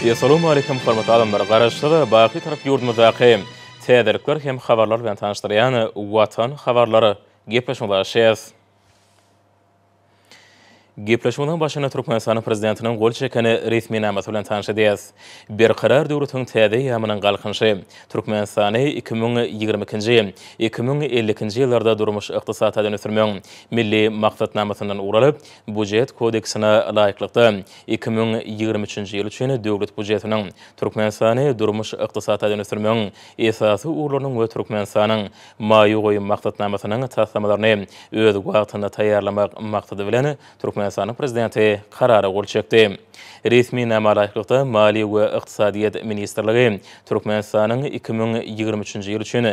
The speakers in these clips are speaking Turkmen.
Essalamu Aleýkum hormatly adamlar! Garaşsyz, baky Türk ýurdumyzdaky täzelikler hem habarlar bilen tanyşdyrýan Watan habarlary gepleşigine garaşýas. Gepleşigiň başyny Türkmenistanyň Prezidentiniň gol çeken resminamasy bilen tanşydys. Berkarar döwletiň täze eýýamynyň Galkynyşy, Türkmenistany iki müň ýigrimi ikinji, iki müň elli ikinji ýyllarda durmuş-ykdysady taýdan ösdürmegiň Milli maksatnamasyndan ugur alyp, Býujet kodeksine laýyklykda, iki müň ýigrimi üçünji ýyl üçin Döwlet býujetiniň Türkmenistany durmuş-ykdysady taýdan ösdürmegiň esasy ugurlarynyň we Türkmenistanyň Maýa goýum maksatnamasynyň taslamalaryny öz wagtynda taýýarlamak maksady bilen, Türkmenistanyň Prezidenti Karara gol çekdi. Resminama laýyklykda, Maliýe we ykdysadyýet ministrligi Türkmenistanyň iki müň ýigrimi üçünji ýyl üçin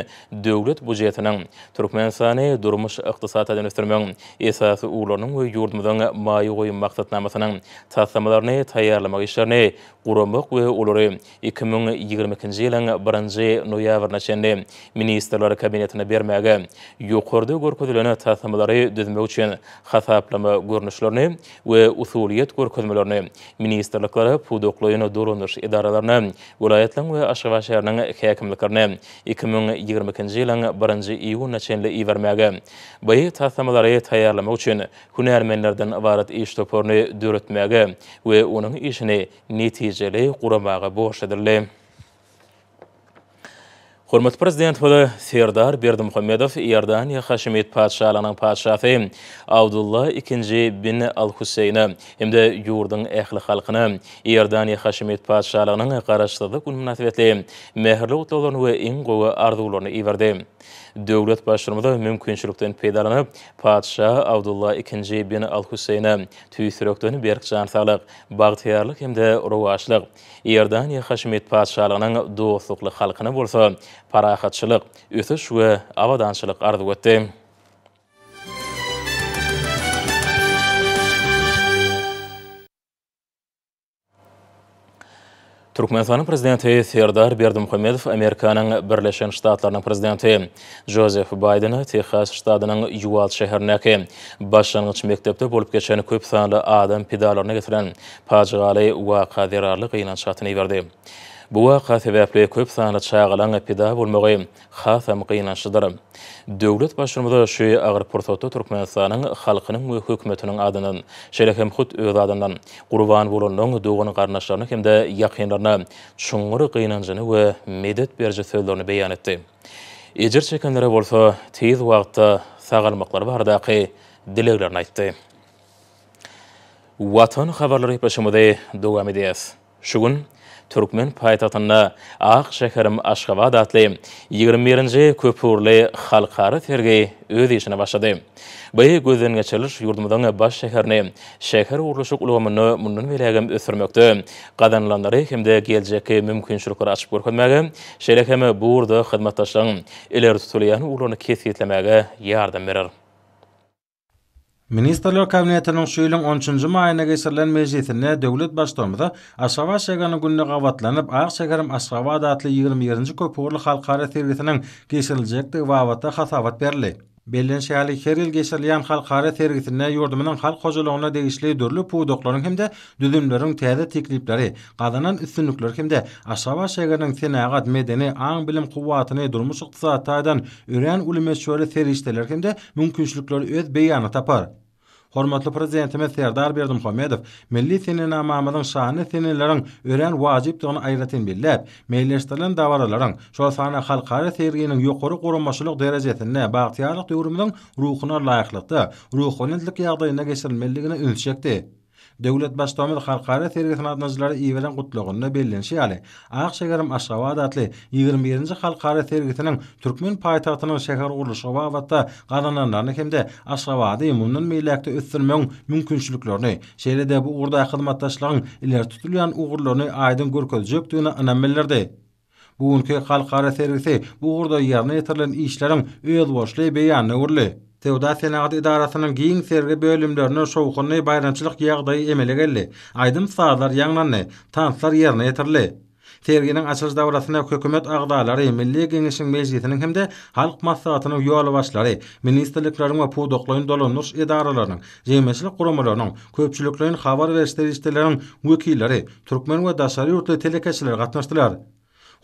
Döwlet bujetiniň Türkmenistany durmuş-ykdysady taýdan ösdürmegiň esasy ugurlarynyň we ýurdumyzyň maýa goýum maksatnamasynyň taslamalaryny taýýarlamak işlerini guramak we olary iki müň ýigrimi ikinji ýylyň birinji noýabryna çenli Ministrler Kabinetine bermäge, ýokarda görkezilen taslamalary düzmek üçin hasaplama görnüşlerini we usulyýet görkezmelerini ministrliklere, pudaklaýyn dolandyryş edaralaryna, welaýatlaryň we Aşgabat şäheriniň häkimliklerine iki müň ýigrimi ikinji ýylyň birinji iýunyna çenli ibermäge, bu taslamalary taýýarlamak üçin hünärmenlerden ybarat iş toparyny döretmäge we onuň işini netijeli guramaga borç edildi. Hormatly Prezidentimiz Serdar Berdimuhamedow Iordaniýa Haşemit Patyşalygynyň Patyşasy Abdulla II bin Al-Husseýne hem-de ýurduň ähli halkyna Iordaniýa Haşemit Patyşalygynyň Garaşsyzlyk güni mynasybetli mähirli gutlaglaryny we iň gowy arzuwlaryny iberdi. Döwlet Baştutmz mümkinçilikden peýdalanyp, Patyşa Abdulla II bin Al-Husseýne tüýs ýürekden berk jan saglyk, Bagtyýarlyk hem-de rowaçlyk, Iordaniýa Haşemit Patyşalygynyň dostlukly halkyna bolsa parahatçylyk, ösüş we abadançylyk arzuw etdi. Türkmenistanyň Prezidenti Serdar Berdimuhamedow Amerikanyň Birleşen Ştatlarynyň Prezidenti Jozef Baýdene Tehas ştadynyň Ýuwald şäherindäki başlangyç mekdepde bolup geçen köp sanly adam pidalaryna getiren pajygaly waka zerarly gynanç hatyny iberdi. Bu waka sebäpli köp sanly çagalaň pida bolmagy hasam gynançlydyr. Döwlet Baştutanyza şu agyr pursatda Türkmenistanyň halkynyň we hökümetiniň adyndan, şeýle hem hut öz adyndan, gurban bolanlaryň dogan-garyndaşlaryna hem-de ýakynlaryna çuňňur gynanjyny we medet beriji sözlerini beýan etdi. Ejir çekenlere bolsa tiz wagtda sagalmaklary baradaky dileglerini aýtdy. Watan habarlary gepleşigimizi dowam edýäs. Şu gün türkmen paýtagtynda Ak şäherim Aşgabat atly ýigrimi birinji köpugurly halkara sergi öz işine başlady. Bu gözdengeçiriliş ýurdumyzyň baş şäherini şähergurluşyk ulgamynda mundan beýlägem ösdürmekde gazanylanlary hem-de geljekki mümkinçilikleri açyp görkezmäge, şeýle hem bu ugurda hyzmatdaşlygyň ileri tutulýan ugurlaryny kesgitlemäge ýardam berer. Ministrler Kabinetiniň şu ýylyň on üçünji maýynda geçirilen mejlisinde döwlet Baştutanymyza Aşgabat şägeriniň gününe gabatlanyp, Ak şäherim Aşgabat atly ýigrimi ýedinji köpugurly halkara sergisiniň geçiriljekdigi babatda hasabat berildi. Bellenişi ýaly, her ýyl geçirilýän halkara sergisinde ýurdumyzyň halk hojalygyna degişli dürli pudaklaryň hem-de Düzümleriň täze teklipleri, gazanan üstünlikler hem-de Aşgabat şägeriniň senagat, medeni, aň-bilim kuwwatyny, durmuş-ykdysady taýdan örän uly möçberli serişdeler hem-de mümkinçilikler öz beýanyny tapar. Hormatly Prezidentimiz Serdar Berdimuhamedow milli senenamamyzyň şanyny seneleriň örän wajypdygyny aýratyn belläp, meýilleşdirilen dabaralaryň, şol sanda halkara serginiň ýokary guramaçylyk derejesinde bagtyýarlyk döwrümiziň ruhuna laýyklykda, ruhubelentlik ýagdaýynda geçirilmelidigine üns çekdi. Döwlet Baştutanymyz halkara sergisine gatnaşyjylara iberen gutlagynda bellenişi ýaly, Ak şäherim Aşgabat atly ýigrimi birinji halkara sergisiniň türkmen paýtagtynyň şähergurluşygy babatda gazananlaryny hem-de Aşgabady mundan beýläk-de ösdürmegiň mümkinçiliklerini, şeýle-de bu ugurda hyzmatdaşlygyň ileri tutulýan ugurlaryny aýdyň görkezjekdigine ynam bildirdi. Bu günki halkara sergisi bu ugurda ýerine ýetirilen işleriň özboluşly beýanyna öwrüldi. Söwda-senagat edarasynyň giň sergi bölümlerinde şowhunly baýramçylyk ýagdaýy emele geldi, aýdym-sazlar ýaňlandy, tanslar ýerine ýetirildi. Serginiň açylyş dabarasyna Hökümet agzalary, Milli Geňeşiň Mejlisiniň hem-de Halk Maslahatynyň ýolbaşçylary, ministrlikleriň we pudaklaýyn dolandyryş edaralarynyň, jemgyýetçilik guramalarynyň, köpçülikleýin habar beriş serişdeleriniň wekilleri, Türkmen we daşary ýurtly telekeçiler gatnaşdylar.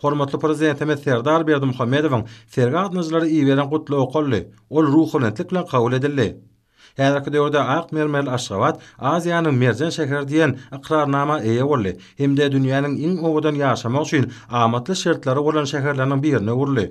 Hormatly Prezidentimiz Serdar Berdimuhamedowyň sergi gatnaýjylara iberen gutlagy okaldy, ol ruhubelentlik bilen kabul edildi. Häzirki döwürde ak mermerli Aşgabat Aziýanyň merjen şäheri diýen ykrarnama eýe boldy hem-de dünýäniň iň owadan ýaşamak üçin amatly şertleri bolan şäherleriniň birine öwrüldi.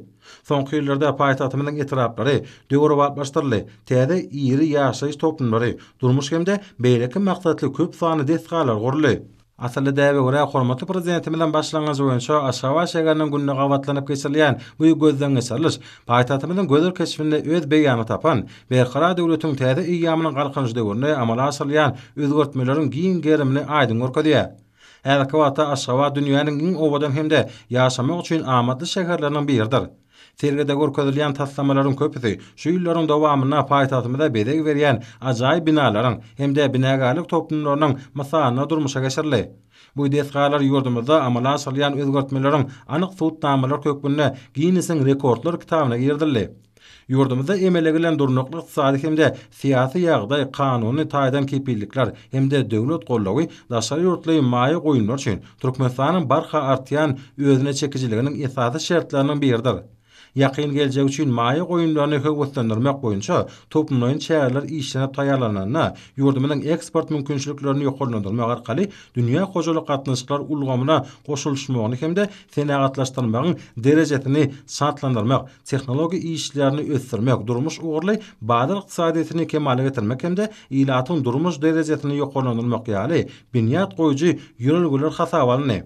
Soňky ýyllarda paýtagtymyzyň etraplary döwrebaplaşdyryldy, täze iri ýaşaýyş toplumlary, durmuş hem-de beýleki maksatly köp sanly desgalar guruldy. Asylly däbe görä, hormatly Prezidentimiziň başlangyjy boýunça Aşgabat şäheriniň gününe gabatlanyp geçirilýän bu gözdengeçiriliş paýtagtymyzyň gözel keşbinde öz beýanyny tapan Berkarar döwletiň täze eýýamynyň Galkynyşy döwründe amala aşyrylýan özgertmeleriň giň gerimini aýdyň görkezýär. Häzirki wagtda Aşgabat dünýäniň iň owadan hem-de ýaşamak üçin amatly şäherleriniň biridir. Sergide görkezilýän taslamalaryň köpüsi şu ýyllaryň dowamynda paýtagtymyza bezeg berýän ajaýyp binalaryň hem-de binagärlik toplumlarynyň mysalynda durmuşa geçirildi. Bu desgalar ýurdumyzda amala aşyrylýan özgertmeleriň anyk subutnamalary hökmünde Ginnesiň rekordlar kitabyna girizildi. Ýurdumyzda emele gelen durnukly ykdysady hem-de syýasy ýagdaý, kanuny taýdan kepillikler hem-de döwlet goldawy daşary ýurtly maýa goýumlar üçin Türkmenistanyň barha artýan özüne çekijiliginiň esasy şertleriniň biridir. Ýakyn geljek üçin maýa goýumlaryny höweslendirmek boýunça toplumlaýyn çäreler işlenip taýýarlanylanda, ýurdumyzyň eksport mümkinçiliklerini ýokarlandyrmak arkaly dünýä hojalyk gatnaşyklar ulgamyna goşulyşmagyny hem-de senagatlaşdyrmagyň derejesini şatlandyrmak tehnologiýa işlerini ösdürmek, durmuş ugurly bazar ykdysadyýetini kemala getirmek hem-de ilatyň durmuş derejesini ýokarlandyrmak ýaly binýat goýujy ýörelgeler hasaba alyndy.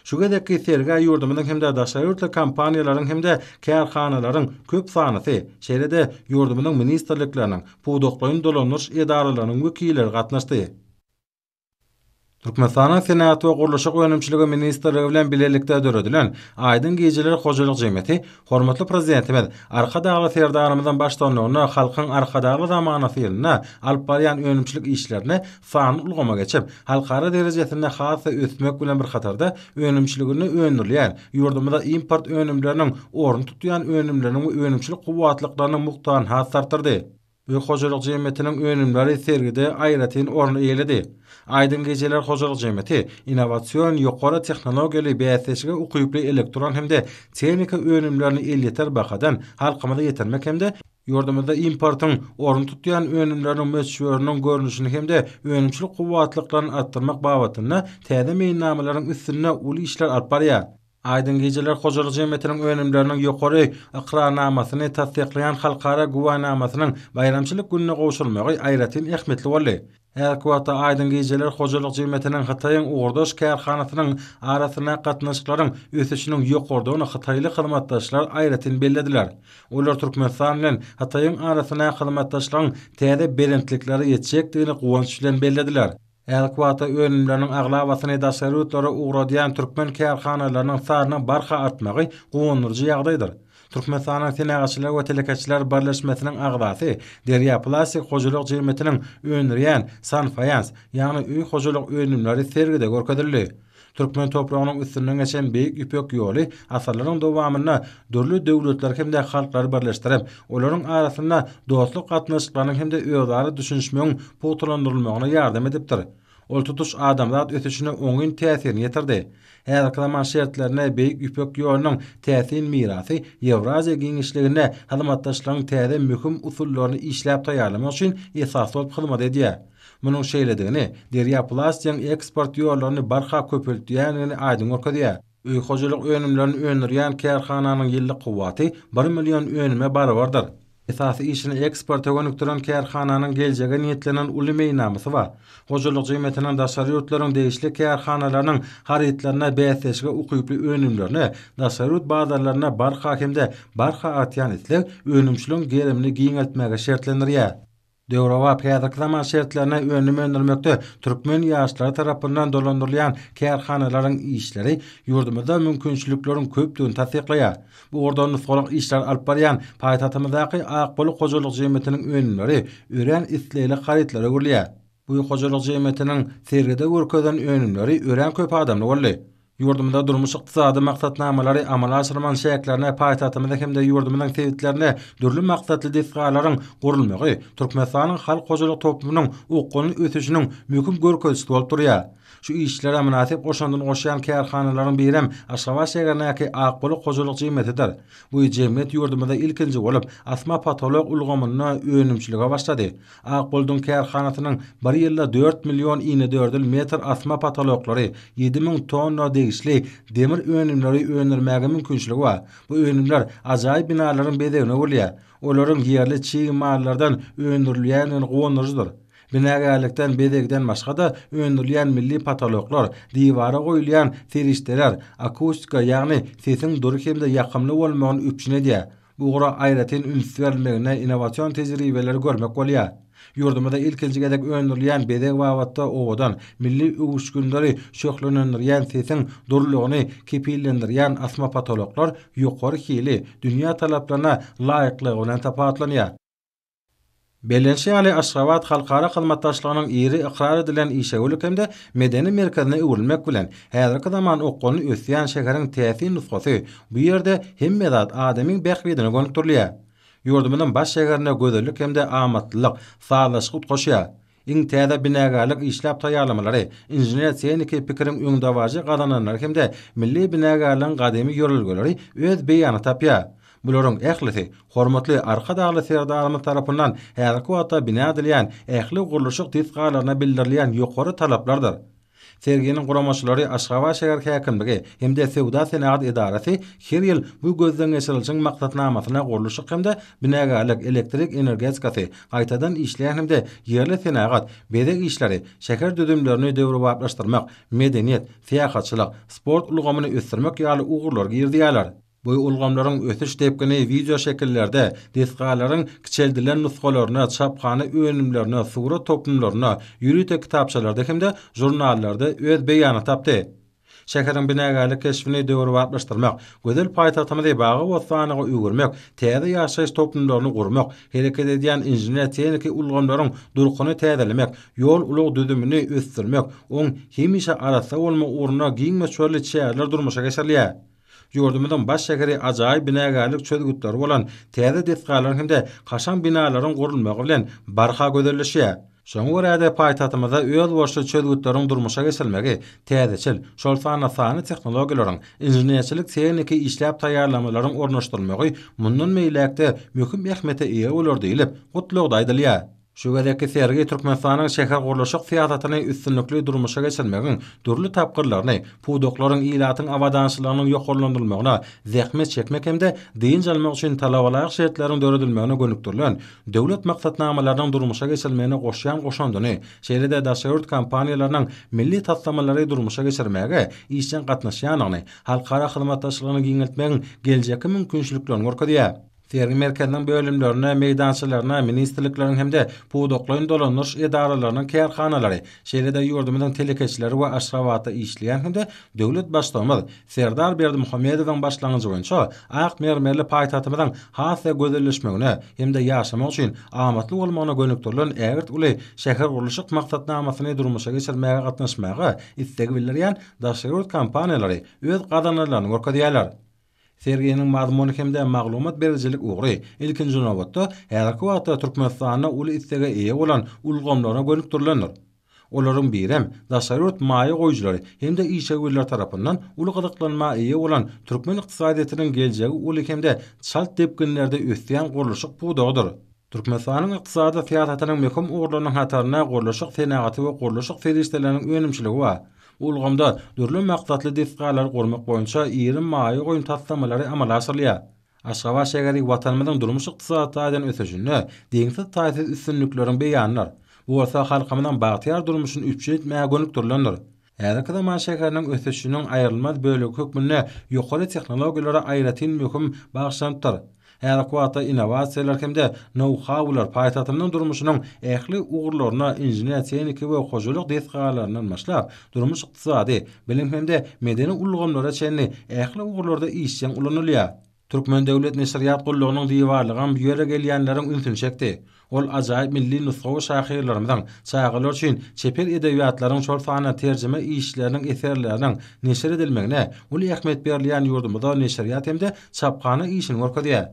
Şu gezekki sergä ýurdumyzyň hem-de daşary ýurtly kompaniýalaryň hem-de kärhanalaryň köp sanysy, şeýle-de ýurdumyzyň ministrlikleriniň, pudaklaýyn dolandyryş edaralarynyň wekilleri gatnaşdy. Türkmenistanyň Senagat we gurluşyk önümçiligi ministrligi bilen bilelikde döredilen Aýdyň gijeler hojalyk jemgyýeti hormatly Prezidentimiz Arkadagly Serdarymyzyň baştutanlygynda Halkyň Arkadagly zamanasy ýylynda alyp barýan önümçilik işlerini sanly ulgama geçip, halkara derejesinde has-da ösdürmek bilen bir hatarda önümçiliginde öndürilýän, ýurdumyza import önümleriniň ornuny tutýan önümleriniň we önümçilik kuwwatlyklarynyň mukdaryny has-da artdyrdy. Öý hojalyk jemgyýetiniň önümleri sergide aýratyn orun eýeledi. Aýdyň gejeler hojalyk jemgyýeti innowasion, ýokary tehnologiýaly, bäsdeşlige ukyply elektron hem-de tehnika önümlerini elýeter bahadan halkymyza ýetirmek hem-de ýurdumyzda importyň orun tutýan önümleriniň möçberiniň görnüşini hem-de önümçilik kuwwatlyklaryny artdyrmak babatynda täze meýilnamalaryň üstünde uly işler alyp barýar. Aýdyň gijeler hojalyk jemgyýetiniň önümleriniň ýokary ykrarnamasyny tassyklaýan halkara güwänamasynyň baýramçylyk gününe gowşurylmagy aýratyn ähmiýetli boldy. Häzirki wagtda Aýdyň gijeler hojalyk jemgyýetiniň Hytaýyň ugurdaş kärhanasynyň arasyndaky gatnaşyklaryň ösüşiniň ýokarydygyny hytaýly hyzmatdaşlar aýratyn bellediler. Olar Türkmenistan bilen Hytaýyň arasyndaky hyzmatdaşlygyň täze belentliklere ýetjekdigini guwanç bilen bellediler. Häzirki wagtda önümleriniň aglabasyny daşary ýurtlara ugradýan türkmen kärhanalarynyň sanynyň barha artmagy guwandyryjy ýagdaýdyr. Türkmenistanyň Senagatçylar we telekeçiler birleşmesiniň agzasy, Derýa plastik hojalyk jemgyýetiniň öndürýän Sanfaýans, ýagny öý hojalyk önümleri sergide görkezildi. Türkmen topragynyň üstünden geçen Beýik Ýüpek ýoly asyrlaryň dowamynda dürli döwletleri hem-de halklary birleşdirip, olaryň arasynda dostluk gatnaşyklarynyň hem-de özara düşünişmegiň pugtalandyrylmagyna ýardam edipdir. Ol tutuş adamzat ösüşine oňyn täsirini ýetirdi. Häzirki zaman şertlerinde Beýik Ýüpek ýolunyň täsin mirasy Ýewraziýa giňişliginde hyzmatdaşlygyň täze möhüm usullaryny işläp taýýarlamak üçin esas bolup hyzmat edýär. Munuň şeýledigini Derýa Plastigiň eksport ýollaryny barha köpeltýändigini aýdyň görkezýär. Öý hojalyk önümlerini öndürýän kärhananyň ýyllyk kuwwaty bir million önüme barabardyr. Esasy işini eksporta gönükdiren kärhananyň geljege niýetlenen uly meýnamysy bar. Hojalyk jemgyýetiniň daşary ýurtlaryň degişli kärhanalarynyň harytlaryna bäsleşige ukyply önümlerine daşary ýurt bazarlarynda barha hem-de barha artýan isleg önümçiligiň gerimini giňeltmäge şertlendirýär. Döwrebap häzirki zaman şertlerine önüm öndürmekde türkmen ýaşlary tarapyndan dolandyrylýan kärhanalaryň işleri ýurdumyzda mümkinçilikleriň köpdügini tassyklaýar. Bu ugurda nusgalyk işleri alyp barýan paýtagtymyzdaky Akbalyk hojalyk jemgyýetiniň önümleri örän islegli harytlara öwrülýär. Bu hojalyk jemgyýetiniň sergide görkezen önümleri örän köp adamly boldy. Ýurdumyzda durmuş-ykdysady maksatnamalary amala aşyrmagyň çäklerinde paýtagtymyzda hem-de ýurdumyzyň sebitlerinde dürli maksatly desgalaryň gurulmagy Türkmenistanyň halk hojalyk toplumynyň okgunly ösüşiniň möhüm görkezijisi bolup durýar. Şu işlere mynasyp goşandyny goşýan kärhanalaryň birem Aşgabat şäherindäki Akbulak hojalyk jemgyýetidir. Bu jemgyýet ýurdumyzda ilkinji bolup asma potolok ulgamynda önümçilige başlady. Akbolduň kärhanasynyň bir ýylda dört million inedördül metr asma potoloklary, ýedi müň tonna degişli demir önümleri öndürmäge mümkinçiligi bar. Bu önümler ajaýyp binalaryň bezegine öwrülýär. Olaryň ýerli çig mallardan öndürilýändigini guwandyryjydyr. Binagärlikden bezegden başga-da, öndürilýän milli potoloklar, diwara goýulýan serişdeler akustika, ýagny sesiň dury hem-de ýakymly bolmagyny üpjün edýär. Bu ugra aýratyn üns berilmegine innowasion tejribeleri görmek bolýar. Ýurdumyzda ilkinji gezek öndürilýän bezeg babatda owadan, milli öwüşginleri şöhlelendirýän sesiň dürlügini kepillendirýän asma potoloklar ýokary hili, dünýä talaplaryna laýyklygy bilen tapawutlanýar. Bellenişi ýaly, Aşgabat halkara hyzmatdaşlygynyň iri ykrar edilen işewürlik hem-de medeni merkezine öwrülmek bilen, häzirki zaman okgunly ösýän şäheriň täsin nusgasy, bu ýerde hemme zat adamyň bähbidine gönükdirilýär. Ýurdumyzyň baş şäherinde gözellik hem-de amatlylyk sazlaşyk utgaşýar. Iň täze binagärlik işläp taýýarlamalary, inžener-tehniki pikiriň öňdebaryjy gazananlary hem-de milli binagärligiň gadymy ýörelgeleri öz beýanyny tapýar. Bularyň ählisi hormatly Arkadagly Serdarymyz tarapyndan häzirki wagtda bina edilýän ähli gurluşyk desgalaryna bildirilýän ýokary talaplardyr. Serginiň guramaçylary Aşgabat şäher häkimligi hem-de Söwda-senagat edarasy her ýyl bu gözdengeçirilişiň maksatnamasyna gurluşyk hem-de binagärlik, elektrik energetikasy, gaýtadan işleýän hem-de ýerli senagat, bezeg işleri, şäher düzümlerini döwrebaplaşdyrmak, medeniýet, syýahatçylyk, sport ulgamyny ösdürmek ýaly ugurlary girizýärler. Bu ulgamlaryň ösüş depgini wideoşekillerde, desgalaryň kiçeldilen nusgalarynda, çaphana önümlerinde, surat toplumlarynda, ýörite kitapçalarda hem-de žurnallarda öz beýanyny tapdy. Şäheriň binagärlik keşbini döwrebaplaşdyrmak, gözel paýtagtymyzy bagy-bossanlyga öwürmek, täze ýaşaýyş toplumlaryny gurmak, hereket edýän inžener-tehniki ulgamlaryň durkuny täzelemek, ýol-ulag düzümini ösdürmek, oň hemişe arassa bolmagy ugrunda giň möçberli çäreler durmuşa geçirilýär. Ýurdumyzyň baş şäheri ajaýyp binagärlik çözgütleri bolan täze desgalaryň hem-de kaşaň binalaryň gurulmagy bilen barha gözelleşýär. Şoňa görä-de, paýtagtymyzda özboluşly çözgütleriň durmuşa geçirilmegi, täzeçil, şol sanda sanly tehnologiýalaryň, inženerçilik-tehniki işläp taýýarlamalaryň ornaşdyrylmagy mundan beýläk-de möhüm ähmiýete eýe bolar diýlip, gutlagda aýdylýar. Şu gezekki sergi Türkmenistanyň şähergurluşyk syýasatyny üstünlikli durmuşa geçirmegiň dürli tapgyrlaryny, pudaklaryň, ilatyň abadançylygynyň ýokarlandyrylmagyna, zähmet çekmek hem-de dynç almak üçin talabalaýyk şertleriň döredilmegine gönükdirilen döwlet maksatnamalarynyň durmuşa geçirilmegine goşýan goşandyny, şeýle-de daşary ýurt kompaniýalarynyň milli taslamalary durmuşa geçirmäge işjeň gatnaşýandygyny, halkara hyzmatdaşlygyny giňeltmegiň geljekki mümkinçiliklerini görkezýär. Sergi merkeziniň bölümlerine, meýdançalaryna ministrlikleriň hem-de pudaklaýyn dolandyryş edaralarynyň kärhanalary, şeýle-de ýurdumyzyň telekeçileri we Aşgabatda işleýän hem-de döwlet Baştutanymiz Serdar Berdimuhamedowyň başlangyjy boýunça ak mermerli paýtagtymyzyň has-da gözelleşmegine hem-de ýaşamak üçin amatly bolmagyna gönükdirilen ägirt uly şähergurluşyk maksatnamasyny durmuşa geçirmäge gatnaşmaga isleg bildirýän daşary ýurt kompaniýalary öz gazananlaryny görkezýärler. Serginiň mazmuny hem-de maglumat berijilik ugry, ilkinji nobatda, häzirki wagtda Türkmenistanda uly islege eýe bolan ulgamlara gönükdirilendir. Olaryň birem, daşary ýurt maýa goýujylary hem-de işewürler tarapyndan uly gyzyklanma eýe bolan türkmen ykdysadyýetiniň geljegi uly hem-de çalt depginlerde ösýän gurluşyk pudagydyr. Türkmenistanyň ykdysady syýasatynyň möhüm ugurlarynyň hatarynda gurluşyk senagaty we gurluşyk serişdeleriniň önümçiligi bar. Bu ulgamda dürli maksatly desgalary gurmak boýunça iri maýa goýum taslamalary amala aşyrylýar. Aşgabat şäheri Watanymyzyň durmuş-ykdysady taýdan ösüşinde deňsiz-taýsyz üstünlikleriň beýanydyr. Bu bolsa halkymyzyň bagtyýar durmuşyny üpjün etmäge gönükdirilendir. Häzirki zaman şäheriniň ösüşiniň aýrylmaz bölegi hökmünde ýokary tehnologiýalara aýratyn möhüm bagyşlanypdyr. Häzirki wagtda innowasiýalar hem-de nou-haular paýtagtymyzyň durmuşynyň ähli ugurlaryna inžener-tehniki we hojalyk desgalaryndan başlap, durmuş-ykdysady, bilim hem-de medeni ulgamlara çenli ähli ugurlarda işjeň ulanylýar. Türkmen döwlet neşirýat gullugynyň diwarlygam bu ýere gelýänleriň ünsüni çekdi. Ol ajaýyp milli nusgawy şahyrlarymyzyň, çagalar üçin çeper edebiýatlaryň, şol sanda terjime işleriniň, eserleriniň neşir edilmegine uly ähmiýet berilýän ýurdumyzda neşirýat hem-de çaphana işini görkezýär.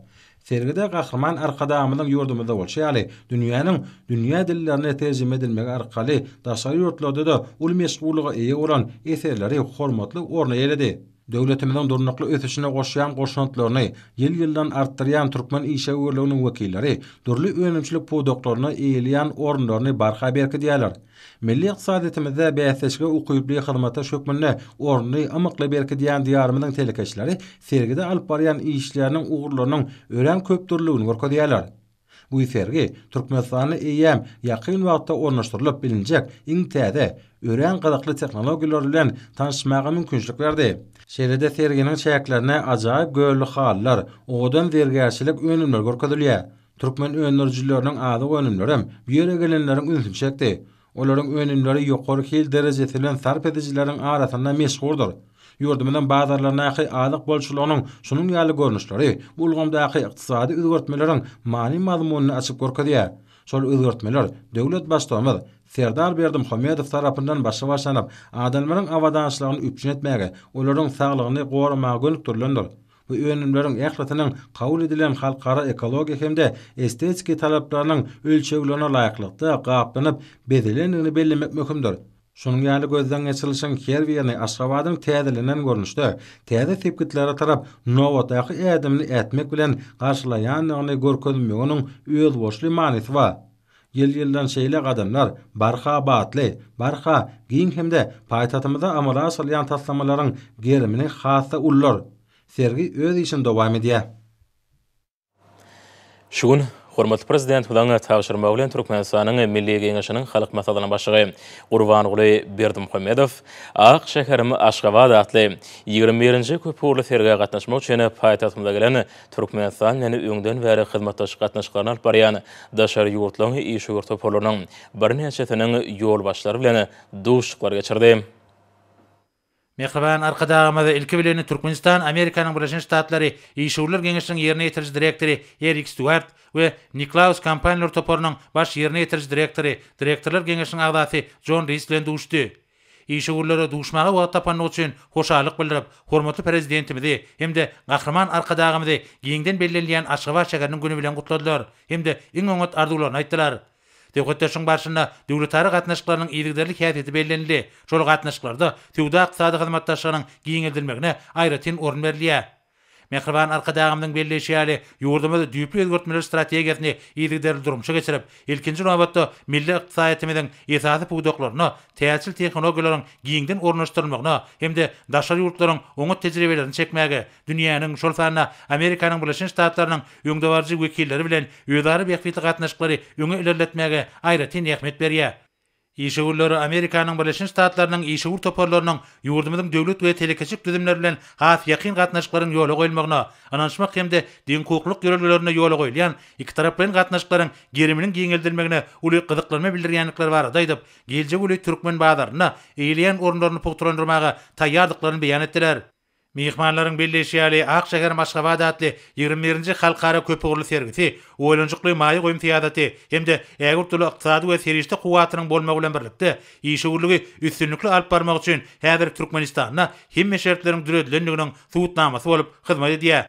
Sergide Gahryman Arkadagymyzyň ýurdumyzda bolşy ýaly, dünýäniň dünýä dillerine terjime edilmegi arkaly daşary ýurtlarda-da uly meşhurlyga eýe bolan eserleri hormatly orun eýeledi. Döwletimiziň durnukly ösüşine goşýan goşantlaryny ýyl-ýyldan artdyrýan türkmen işewürliginiň wekilleri dürli önümçilik pudaklarynda eýeleýän orunlaryny barha berkidýärler. Milli ykdysadyýetimizde bäsleşige ukyply hyzmataş hökmünde ornuny ymykly berkidýän Diýarymyzyň telekeçileri sergide alyp barýan işleriniň ugurlarynyň örän köpdürlüligini görkezýärler. Bu sergi Türkmenistanda eýýäm ýakyn wagtda ornaşdyrylyp bilinjek iň täze, örän gyzykly tehnologiýalar bilen tanyşmaga mümkinçilik berdi. Şeýle-de serginiň çäklerinde ajaýyp gölli halylar, owadan zergärçilik önümleri görkezilýär. Türkmen öndürijileriniň azyk önümlerem bu ýere gelenleriň ünsüni çekdi. Olaryň önümleri ýokary hil derejesi bilen sarp edijileriň arasynda meşhurdyr. Ýurdumyzyň bazarlaryndaky azyk bolçulygynyň şunuň ýaly görnüşleri bu ulgamdaky ykdysady özgertmeleriň many-mazmunyny açyp görkezýär. Şol özgertmeler döwlet Baştugumyz Serdar Berdimuhamedow tarapyndan başa başlanyp, adamlaryň abadançylygyny üpjün etmäge, olaryň saglygyny goramaga gönükdirilendir. Bu önümleriň ählisiniň kabul edilen halkara ekologiýa hem-de estetiki talaplarynyň ölçeglerine laýyklykda gaplanyp, bezelendigini bellemek möhümdir. Şunuň ýaly gözden geçirilişiň her birini Aşgabadyň täzelenen görnüşde, täze sepgitlere tarap nobatdaky ädimini ätmek bilen garşylaýandygyny görkezmeginiň özboluşly manysy bar. Ýyl-ýyldan şeýle gadamlar barha batly, barha giň hem-de paýtagtymyzda amala aşyrylýan taslamalaryň gerimini has-da ullar. Sergi öz işini dowam edýär. Şu gün hormatly Prezidentimiziň tabşyrmagy bilen Türkmenistanyň Milli Geňeşiniň Halk Maslahatynyň Başlygy Gurbanguly Berdimuhamedow Ak şäherim Aşgabat atly ýigrimi birinji köpugurly sergä gatnaşmak üçin paýtagtymyza gelen Türkmenistan bilen öňden bäri hyzmatdaşlyk gatnaşyklaryny alyp barýan daşary ýurtlaryň işewür toparlarynyň birnäçesiniň ýolbaşçylary bilen duşuşyklar geçirdi. Mähriban Arkadagymyz, ilki bilen, Türkmenistan, Amerikanyň Birleşen Ştatlary Işewürler geňeşiniň ýerine ýetiriji direktory Erik Stuart we Niklaus kompaniýalar toparynyň baş ýerine ýetiriji direktory, direktorlar geňeşiniň agzasy Jon Ris bilen duşdy. Işewürlere duşmaga wagt tapandygy üçin hoşallyk bildirip, hormatly Prezidentimizi hem-de Gahryman Arkadagymyzy giňden bellenilýän Aşgabat şäheriniň güni bilen gutladylar hem-de iň oňat arzuwlaryny aýtdylar. Söhbetdeşligiň barşynda döwletara gatnaşyklarynyň yzygiderli häsiýeti bellenildi, şol gatnaşyklarda söwda-ykdysady hyzmatdaşlygynyň giňeldilmegine aýratyn orun berilýär. Mähriban Arkadagymyzyň belleýşi ýaly, ýurdumyz düýpli özgertmeler strategiýasyny yzygiderli durmuşa geçirip, ilkinji nobatda, milli ykdysadyýetimiziň esasy pudaklaryna täjirçil tehnologiýalaryň giňden ornaşdyrylmagyna hem-de daşary ýurtlaryň oňat tejribelerini çekmäge, dünýäniň, şol sanda Amerikanyň Birleşen Ştatlarynyň öňdebaryjy wekilleri bilen özara bähbitli gatnaşyklary öňe ilerletmäge aýratyn ähmiýet berýär. Işewürleri Amerikanyň Birleşen Ştatlarynyň işewür toparlarynyň ýurdumyzyň döwlet we telekeçilik düzümleri bilen has ýakyn gatnaşyklaryň ýola goýulmagyna ynanyşmak hem-de deňhukuklylyk ýörelgelerinde ýola goýulýan ikitaraplaýyn gatnaşyklaryň geriminiň giňeldilmegine uly gyzyklanma bildirýändikleri barada aýdyp, geljek uly türkmen bazarynda eýeleýän orunlaryny pugtalandyrmaga taýýardyklaryny beýan etdiler. Myhmanlaryň belleýşi ýaly, Ak şäherim Aşgabat atly ýigrimi birinji halkara köpugurly sergisi oýlanyşykly maýa goýum syýasaty hem-de ägirt uly ykdysady we serişde kuwwatynyň bolmagy bilen birlikde, işewürligi üstünlikli alyp barmak üçin häzir Türkmenistanda hemme şertleriň döredilendiginiň subutnamasy bolup hyzmat edýär.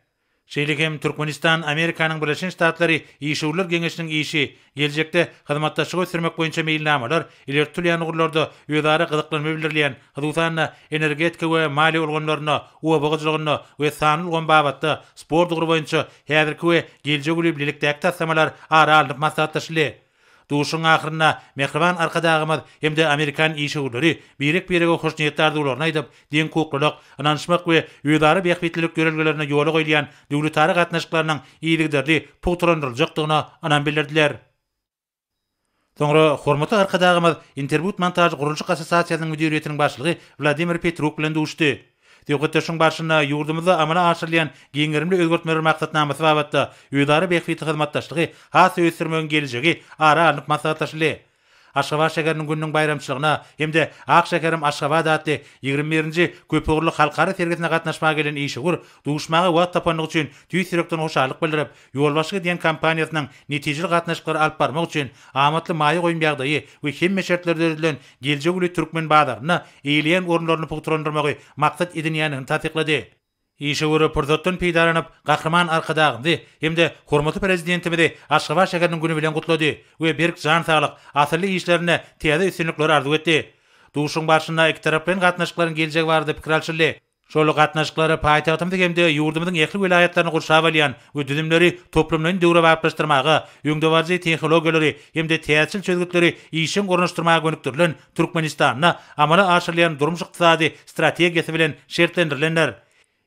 Şeýle hem Türkmenistan, Amerikanyň Birleşen Ştatlary işewürler geňeşiniň işi, geljekde hyzmatdaşlygy ösdürmek boýunça meýilnamalar ileri tutulýan ugurlarda özara gyzyklanma bildirilýän, hususan-da, energetika we maliýe ulgamlarynda, oba hojalygynda we sanly ulgam babatda sport ugry boýunça häzirki we geljek uly bilelikdäki taslamalar ara alnyp maslahatlaşyldy. Duşuşygyň ahyrynda mähriban Arkadagymyz hem-de amerikan işewürleri birek-birege hoşniýetli arzuwlaryny aýdyp, deňhukuklylyk, ynanyşmak we özara bähbitlilik ýörelgelerinde ýola goýulýan döwletara gatnaşyklarynyň yzygiderli pugtalandyryljakdygyna ynam bildirdiler. Soňra hormatly Arkadagymyz Interbudmontaž gurluşyk assosiasiýasynyň müdiriýetiniň başlygy Wladimir Petruk bilen duşuşdy. Söhbetdeşligiň barşynda ýurdumyzda amala aşyrylýan giň gerimli özgertmeler maksatnamasy babatda özara bähbitli hyzmatdaşlygy has-da ösdürmegiň geljegi ara alnyp maslahatlaşyldy. Aşgabat şäheriniň gününiň baýramçylygyna hem-de Ak şäherim Aşgabat atly ýigrimi birinji köpugurly halkara sergisine gatnaşmaga gelen işewür duşmaga wagt tapandygy üçin tüýs ýürekden hoşallyk bildirip, Ýolbaşçylyk edýän kompaniýasynyň netijeli gatnaşyklary alyp barmak üçin amatly maýa goýum ýagdaýy we hemme şertler döredilen geljegi uly türkmen bazarynda eýeleýän orunlaryny pugtalandyrmagy maksat edinýändigini tassyklady. Işe göre pursatdan peýdalanyp, Gahryman Arkadagymyzy hem-de hormatly Prezidentimizi Aşgabat şäheriniň güni bilen gutlady we berk jan saglyk, asylly işlerinde täze üstünlikler arzuw etdi. Duşuşygyň barşynda ikitaraplaýyn gatnaşyklaryň geljegi barada pikir alşyldy. Şol gatnaşyklary paýtagtymyzy hem-de ýurdumyzyň ähli welaýatlaryny gurşap alýan we düzümleri toplumlaýyn döwrebaplaşdyrmaga, öňdebaryjy tehnologiýalary hem-de täzeçil çözgütleri işjeň ornaşdyrmaga gönükdirilen Türkmenistanda amala aşyrylýan durmuş-ykdysady strategiýasy bilen şertlendirilendir.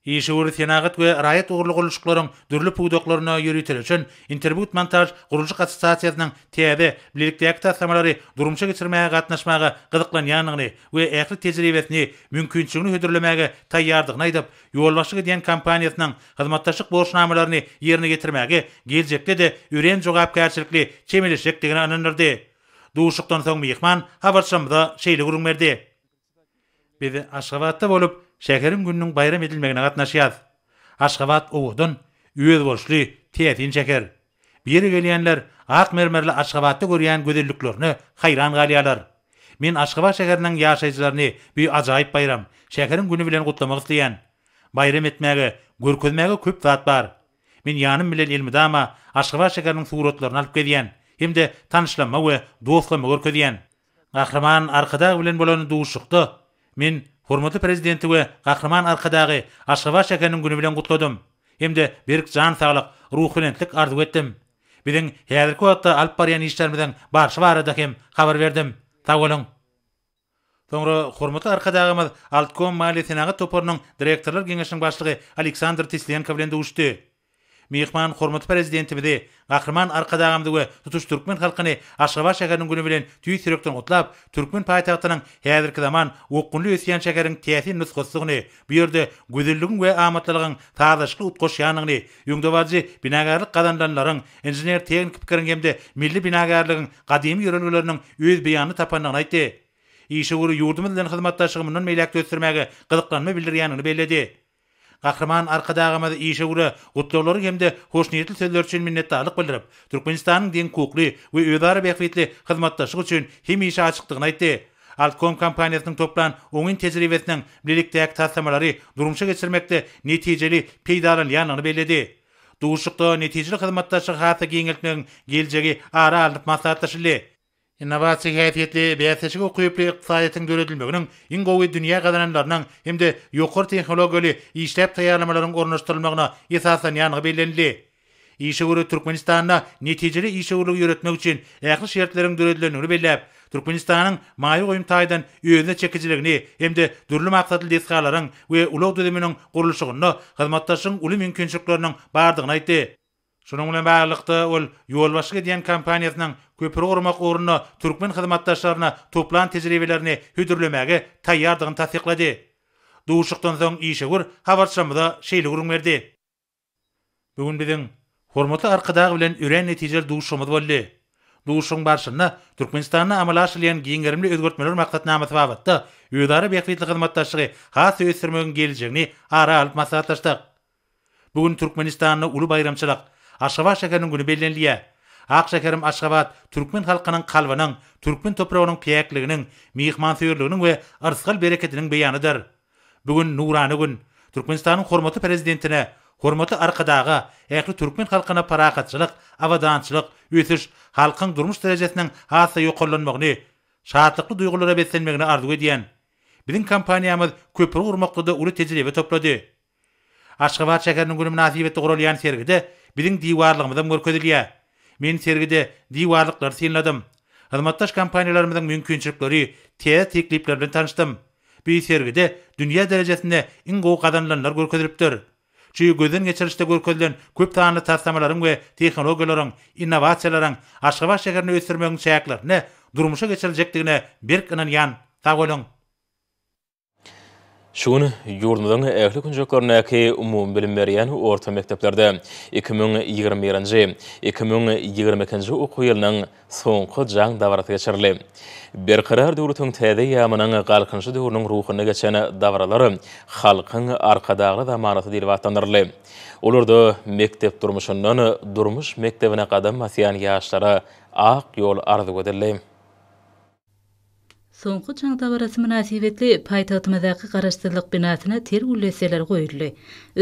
Işewür, senagat we raýat ugurly gurluşyklaryň dürli pudaklaryna ýöriteleşen Interbut-montaž gurluşyk assosiasiýasynyň täze, bilelikdäki taslamalary durmuşa geçirmäge gatnaşmaga gyzyklanýandygyny, we ähli tejribesini, mümkinçiligini hödürlemäge taýýardygyny aýdyp, ýolbaşçylyk edýän kompaniýasynyň hyzmatdaşlyk borçnamalaryny ýerine ýetirmäge geljekde-de örän jogapkärçilikli çemeleşjekdigine ynandyrdy. Duşuşykdan soň myhman habarçymyza şeýle gürrüň berdi. Biz Aşgabatda bolup, şäheriň gününiň baýram edilmegine gatnaşýarys. Aşgabat owadan, özboluşly, täsin şäher. Bu ýere gelýänler ak mermerli Aşgabatda görýän gözelliklerine haýran galýarlar. Men Aşgabat şäheriniň ýaşaýjylaryny bu ajaýyp baýram, şäheriň güni bilen gutlamak isleýän. Baýram etmäge, görkezmäge köp zat bar. Men ýanym bilen elmydama Aşgabat şäheriniň suratlaryny alyp gezýän hem-de tanyşlama we dostlama görkezýän. Gahryman Arkadag bilen bolan duşuşykda men hormatly Prezidenti we Gahryman Arkadagy Aşgabat şäheriniň güni bilen gutladym hem-de berk jan saglyk, ruhubelentlik arzuw etdim. Biziň häzirki wagtda alyp barýan işlerimiziň barşy barada hem habar berdim. Sag boluň! Soňra hormatly Arkadagymyz Altkom maliýe-senagat toparynyň direktorlar geňeşiniň başlygy Aleksandr Tislenko bilen duşuşdy. Myhman hormatly Prezidentimizi, Gahryman Arkadagymyzy we tutuş türkmen halkyny Aşgabat şäheriniň güni bilen tüýs ýürekden gutlap, türkmen paýtagtynyň häzirki zaman okgunly ösýän şäheriň täsin nusgasydygyny, bu ýerde gözelligiň we amatlylygyň sazlaşykly utgaşýandygyny, öňdebaryjy binagarlyk gazanylanlaryň, inžener-tehniki pikiriň hem-de milli binagärligiň gadymy ýörelgeleriniň öz beýanyny tapandygyny aýtdy. Işewür ýurdumyz bilen hyzmatdaşlygy mundan beýläk-de ösdürmäge gyzyklanma bildirýändigini belledi. Gahryman Arkadagymyz işewüre gutlaglary hem-de hoşniýetli sözleri üçin minnetdarlyk bildirip, Türkmenistanyň deňhukukly we özara bähbitli hyzmatdaşlyk üçin hemişe açykdygyny aýtdy. Altkom kompaniýasynyň toplan oňyn tejribesiniň bilelikdäki taslamalary durmuşa geçirmekde netijeli peýdalanylýandygyny belledi. Duşuşykda netijeli hyzmatdaşlygy has-da giňeltmegiň geljegi ara alnyp maslahatlaşyldy. Innowasiýa häsiýetli, bäsleşige ukyply ykdysadyýetiň döredilmeginiň iň gowy dünýä gazananlarynyň hem-de ýokary tehnologiýaly işläp taýýarlamalaryň ornaşdyrylmagyna esaslanýandygy bellenildi. Işewür Türkmenistanda netijeli işewürligi ýöretmek üçin ähli şertleriň döredilendigini belläp, Türkmenistanyň maýa goýum taýdan özüne çekijiligini hem-de dürli maksatly desgalaryň we ulag düzüminiň gurluşygynda hyzmatdaşlygyň uly mümkinçilikleriniň bardygyny aýtdy. Şunuň bilen baglylykda, ol ýolbaşçylyk edýän kompaniýasynyň köpri gurmak ugrunda türkmen hyzmatdaşlaryna toplan tejribelerini hödürlemäge taýýardygyny tassyklady. Duşuşykdan soň işewür habarçymyza şeýle gürrüň berdi. Bu gün biziň hormatly Arkadag bilen örän netijeli duşuşygymyz boldy. Duşuşygyň barşynda Türkmenistanda amala aşyrylýan giň gerimli özgertmeler maksatnamasy babatda özara bähbitli hyzmatdaşlygy has-da ösdürmegiň geljegini ara alyp maslahatlaşdyk. Bu gün Türkmenistanda uly baýramçylyk, Aşgabat şäheriniň güni bellenilýär. Ak şäherim Aşgabat türkmen halkynyň kalbynyň, türkmen topragynyň päkliginiň, myhmansöýerliginiň we yrsgal-bereketiniň beýanydyr. Bu gün, nurana gün. Türkmenistanyň hormatly Prezidentine, hormatly Arkadaga, ähli türkmen halkyna parahatçylyk, abadançylyk, ösüş, halkyň durmuş derejesiniň has-da ýokarlanmagyny, şatlykly duýgulara beslenmegini arzuw edýän. Biziň kompaniýamyz köpri gurmakda-da uly tejribe toplady. Aşgabat şäheriniň güni mynasybetli guralýan sergide biziň diwarlygymyzam görkezilýär. Men sergide diwarlyklary synladym. Hyzmatdaş kompaniýalarymyzyň mümkinçilikleri, täze teklipler bilen tanyşdym. Bi sergide dünýä derejesinde iň gowy gazanylanlar görkezilipdir. Çü gözden geçirişde görkezilen köp sanly taslamalaryň we tehnologiýalaryň, innowasiýalaryň Aşgabat şäherini ösdürmegiň çäklerinde durmuşa geçiriljekdigine berk ynanýan. Sag boluň! Şu gün ýurdumyzyň ähli künjeklerindäki umumybilim berýän orta mekdeplerde iki müň ýigrimi birinji, iki müň ýigrimi ikinji okuw ýylynyň soňky jaň dabarasy geçirildi. Berkarar döwletiň täze eýýamynyň Galkynyşy döwrüniň ruhunda geçen dabaralar Halkyň Arkadagly zamanasy diýlip atlandyryldy. Olarda mekdep durmuşyndan durmuş mekdebine gadam basýan ýaşlara ak ýol arzuw edildi. Soňky jaň dabarasy mynasybetli paýtagtymyzdaky Garaşsyzlyk binasyna ter gülleseler goýuldy.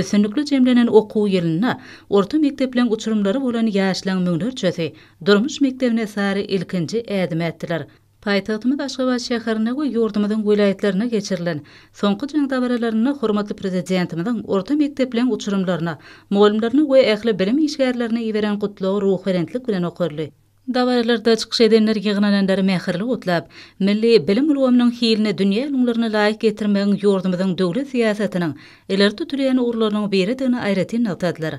Üstünlikli jemlenen okuw ýylynda orta mekdepleriň uçurymlary bolan ýaşlaryň müňlerçesi durmuş mekdebine sary ilkinji ädim ätdiler. Paýtagtymyz Aşgabat şäherinde we ýurdumyzyň welaýatlarynda geçirilen soňky jaň dabaralarynda hormatly Prezidentimiziň orta mekdepleriň uçurymlaryna, mugallymlaryna we ähli bilim işgärlerine iberen Gutlagy ruhubelentlik bilen okaldy. Dabaralarda çykyş edenler ýygnananlary mähirli gutlap, milli bilim ulgamynyň hilini dünýä ülňülerine laýyk getirmegiň ýurdumyzyň döwlet syýasatynyň ileri tutulýan ugurlarynyň biridigini aýratyn nygtadylar.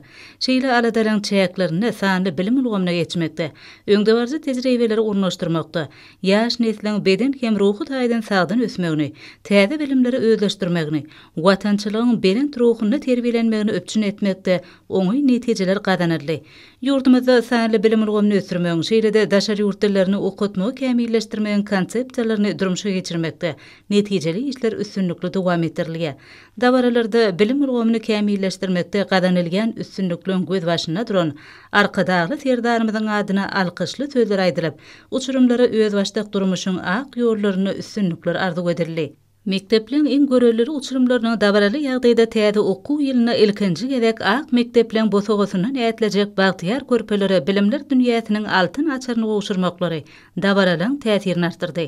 Şeýle aladalygyň çäklerinde sanly bilim ulgamyna geçmekde, öňdebaryjy tejribeleri ornaşdyrmakda, ýaş nesliň beden hem ruhy taýdan sagdyn ösmegini, täze bilimleri özleşdirmegini, watançylygyň belent ruhunda terbiýelenmegini üpjün etmekde oňyn netijeler gazanyldy. Ýurdumyzda sanly bilim ulgamyny ösdürmegiň, şeýle-de daşary ýurt dillerini okatmagy kämilleşdirmegiň konsepsiýalaryny durmuşa geçirmekde netijeli işler üstünlikli dowam etdirilýär. Dabaralarda bilim ulgamyny kämilleşdirmekde gazanylýan üstünlikleriň gözbaşynda duran Arkadagly Serdarymyzyň adyna alkyşly sözler aýdylyp, uçurymlara özbaşdak durmuşyň ak ýollarynda üstünlikler arzuw edildi. Mekdepleriň iň görelili uçurymlarynyň dabaraly ýagdaýda täze okuw ýylynda ilkinji gezek ak mekdepleriň bosagasyndan ätlejek bagtyýar körpelere bilimler dünýäsiniň altyn açaryny gowşurmaklary dabaralygyň täsirini artdyrdy.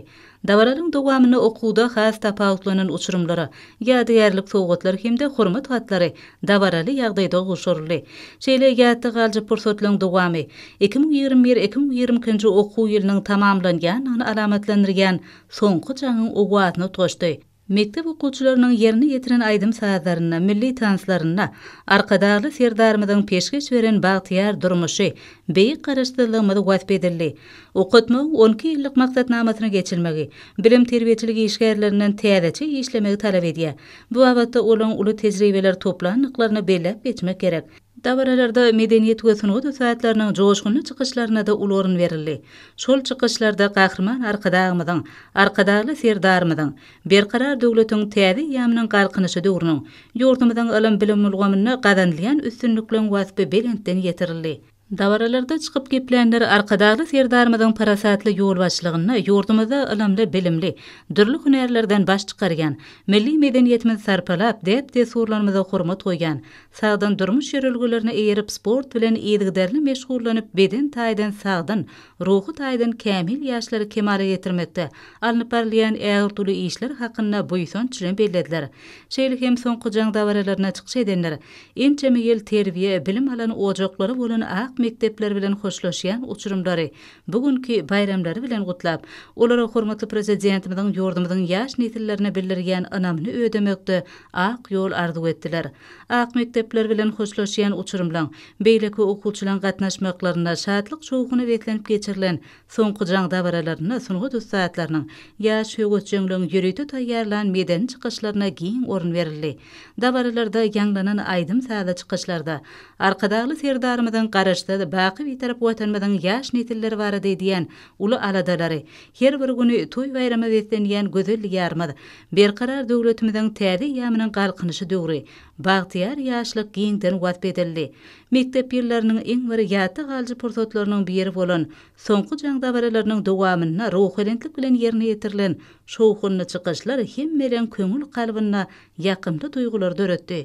Dabaralygyň dowamynda okuwda has tapawutlanan uçurymlara ýadygärlik sowgatlar hem-de hormat hatlary dabaraly ýagdaýda gowşuryldy. Şeýle ýatda galyjy pursatlaryň dowamy iki müň ýigrimi bir-iki müň ýigrimi ikinji okuw ýylynyň tamamlanýandygyny alamatlandyrýan soňky jaňyň owazyny utgaşdy. Mekdep okuwçylarynyň ýerine ýetiren aýdym-sazlarynda, milli tanslarynda Arkadagly Serdarymyzyň peşgeş beren bagtyýar durmuşy, beýik Garaşsyzlygymyz wasp edildi. Okatmagyň on iki ýyllyk maksatnamasyny geçirmegi, bilim-terbiýeçilik işgärlerinden täzeçe işlemegi talap edýär. Bu babatda olaň uly tejribeler toplandyklaryny belläp geçmek gerek. Dabaralarda medeniýet we sungat ussatlarynyň joşgunly çykyşlaryna-da uly orun berildi. Şol çykyşlarda Gahryman Arkadagymyzyň, Arkadagly Serdarymyzyň Berkarar döwletiň täze eýýamynyň Galkynyşy döwrüniň, ýurdumyzyň ylym-bilim ulgamynda gazanylýan üstünlikleň waspy belentden ýetirildi. Dabaralarda çykyp geplänler Arkadagly Serdarymyzyň parasatly ýolbaşçylygynda ýurdumyzda ylymly-bilimli, dürli hünärlerden baş çykarýan, milli medeniýetimizi sarpalap, däp-dessurlarymyza hormat goýýan, Sagdyn durmuş ýörelgelerine eýerip, sport bilen yzygiderli meşgullanyp, beden taýdan sagdyn, ruhy taýdan kämil ýaşlary kemala getirmekde alnyp barylýan ägirt uly işler hakynda buýsanç bilen bellediler. Şeýle hem soňky jaň dabaralaryna çykyş edenler ençeme ýyl terbiýe, bilim alan ojaklary bolan ak mekdepler bilen hoşlaşýan uçurymlary bu günki baýramlary bilen gutlap, olara hormatly Prezidentimiziň ýurdumyzyň ýaş nesillerine bildirýän ynamyny ödemekde Ak ýol arzuw etdiler. Ak mekdepler bilen hoşlaşýan uçurymlaň, beýleki okuwçylaň gatnaşmaklarynda, şatlyk-şowhuna beslenip geçirilen soňky jaň dabaralarynda sungat ussatlarynyň, ýaş höwesjeňleň ýörite taýýarlan medeni çykyşlaryna giň orun berildi. Dabaralarda ýaňlanan aýdym-sazly çykyşlarda Arkadagly Serdarymyzyň Garaşsyz, baky Bitarap Watanymyzyň ýaş nesilleri barada edýän uly aladalary, her bir güni toý-baýrama beslenýän gözel Diýarymyz, Berkarar döwletimiziň täze eýýamynyň Galkynyşy döwri, bagtyýar ýaşlyk giňden wasp edildi. Mekdep ýyllarynyň iň bir ýatda galyjy pursatlarynyň biri bolan Soňky jaň dabaralarynyň dowamynda ruhubelentlik bilen ýerine ýetirilen şowhunly çykyşlar hemmeleriň köňül kalbynda ýakymly duýgulary döretdi.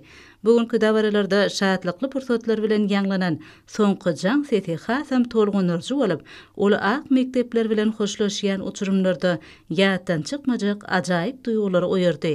Bu günki dabaralarda şatlykly pursatlar bilen ýaňlanan soňky jaň sesi hasam tolgundyryjy bolup, ol ak mekdepler bilen hoşlaşýan uçurymlarda ýatdan çykmajak ajaýyp duýgulary oýardy.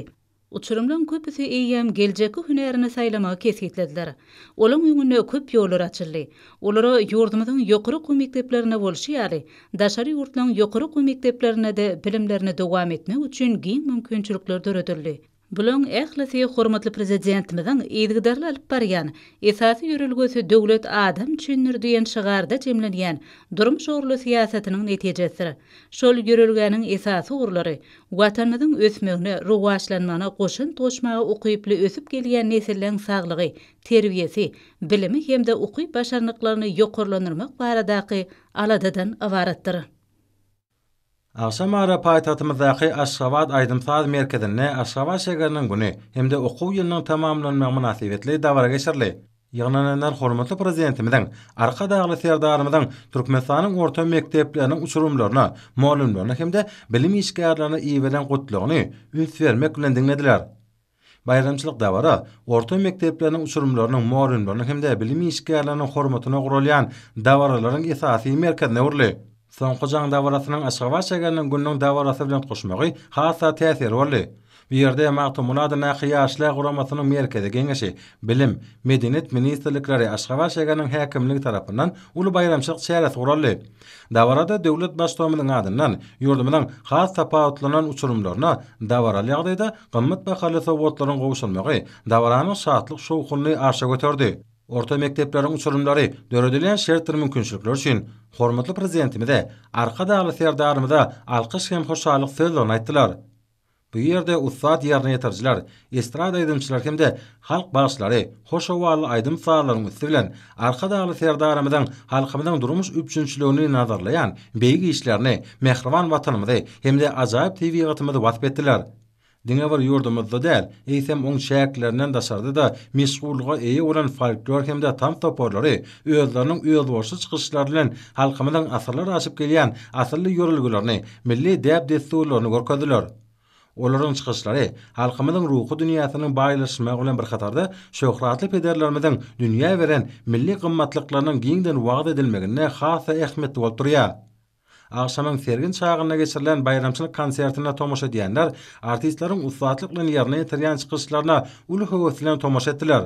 Uçurymlaryň köpüsi eýýäm geljekki hünärini saýlamagy kesgitlediler. Olaryň öňünde köp ýollar açyldy. Olara ýurdumyzyň ýokary okuw mekdeplerinde bolşy ýaly, daşary ýurtlaryň ýokary okuw mekdeplerinde-de bilimlerini dowam etmek üçin giň mümkinçilikler döredildi. Bularyň ählisi hormatly Prezidentimiziň yzygiderli alyp barýan Esasy ýörelgesi Döwlet adam üçindir! diýen şygarda jemlenýän durmuş ugurly syýasatynyň netijesidir. Şol ýörelgäniň esasy ugurlary Watanymyzyň ösmegine, rowaçlanmagyna goşant goşmaga ukyply ösüp gelýän nesilleň saglygy, terbiýesi, bilimi hem-de ukyp-başarnyklaryny ýokarlandyrmak baradaky aladadan ybaratdyr. Agşam ara paýtagtymyzdaky Aşgabat aýdym-saz merkezinde Aşgabat şägeriniň güni hem-de okuw ýylynyň tamamlanmagy mynasybetli dabara geçirildi. Ýygnananlar hormatly Prezidentimiziň, Arkadagly Serdarymyzyň Türkmenistanyň orta mekdepleriniň uçurymlaryna, mugallymlaryna hem-de bilim işgärlerine iberen Gutlagyny üns bermek bilen diňlediler. Baýramçylyk dabara orta mekdepleriniň uçurymlarynyň mugallymlarynyň hem-de bilim işgärleriniň hormatyna guralýan dabaralaryň esasy merkezine öwrüldi. Soňky jaň dabarasynyň Aşgabat şägeriniň gününiň dabarasy bilen tutuşmagy has-da täsirli boldy. Bu ýerde Magtymguly adyndaky Ýaşlar guramasynyň Merkezi Geňeşi, Bilim, Medeniýet ministrlikleri, Aşgabat şägeriniň häkimligi tarapyndan uly baýramçylyk çäresi guraldy. Dabarada döwlet Baştutamymyzyň adyndan ýurdumyzyň has tapawutlanan uçurymlaryna dabaraly ýagdaýda gymmat bahaly sowgatlaryň gowşurylmagy dabaranyň şatlyk-şowhunyny arşa göterdi. Orta mekdepleriň uçurymlary döredilen şertler-mümkinçilikler üçin hormatly Prezidentimize, Arkadagly Serdarymyza alkyş hem hoşallyk sözlerini aýtdylar. Bu ýerde ussat ýerine ýetirijiler, estrada aýdymçylary hem-de halk bagşylary hoş howally aýdym-sazlaryň üsti bilen Arkadagly Serdarymyzyň halkymyzyň durmuş üpjünçiligini nazarlaýan beýik işlerini, mähriban Watanymyzy hem-de ajaýyp tebigatymyzy wasp etdiler. Diňe bir ýurdumyzda däl, eýsem, oň çäklerinden daşarda-da meşhurlyga eýe bolan folklor hem-de tans toparlary özleriniň özboluşly çykyşlary bilen halkymyzyň asyrlar aşyp gelýän asylly ýörelgelerini, milli däp-dessurlaryny görkezdiler. Olaryň çykyşlary halkymyzyň ruhy dünýäsiniň baýlaşmagy bilen bir hatarda şöhratly pederlerimiziň dünýä beren milli gymmatlyklarynyň giňden wagyz edilmeginde has-da ähmiýetli bolup durýar. Agşamyň sergin çagynda geçirilen baýramçylyk konsertine tomaşa edýänler artistleriň ussatlyk bilen ýerine ýetirýän çykyşlaryna uly höwes bilen tomaşa etdiler.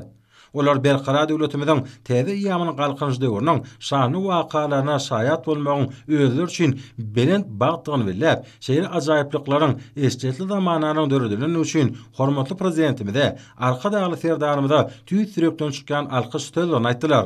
Olar Berkarar döwletimiziň täze eýýamynyň Galkynyş döwrüniň şanly wakalaryna şaýat bolmagyň özleri üçin belent bagtdygyny belläp, şeýle ajaýyplyklaryň eşretli zamananyň döredilendigi üçin hormatly Prezidentimize, Arkadagly Serdarymyza tüýs ýürekden çykýan alkyş sözlerini aýtdylar.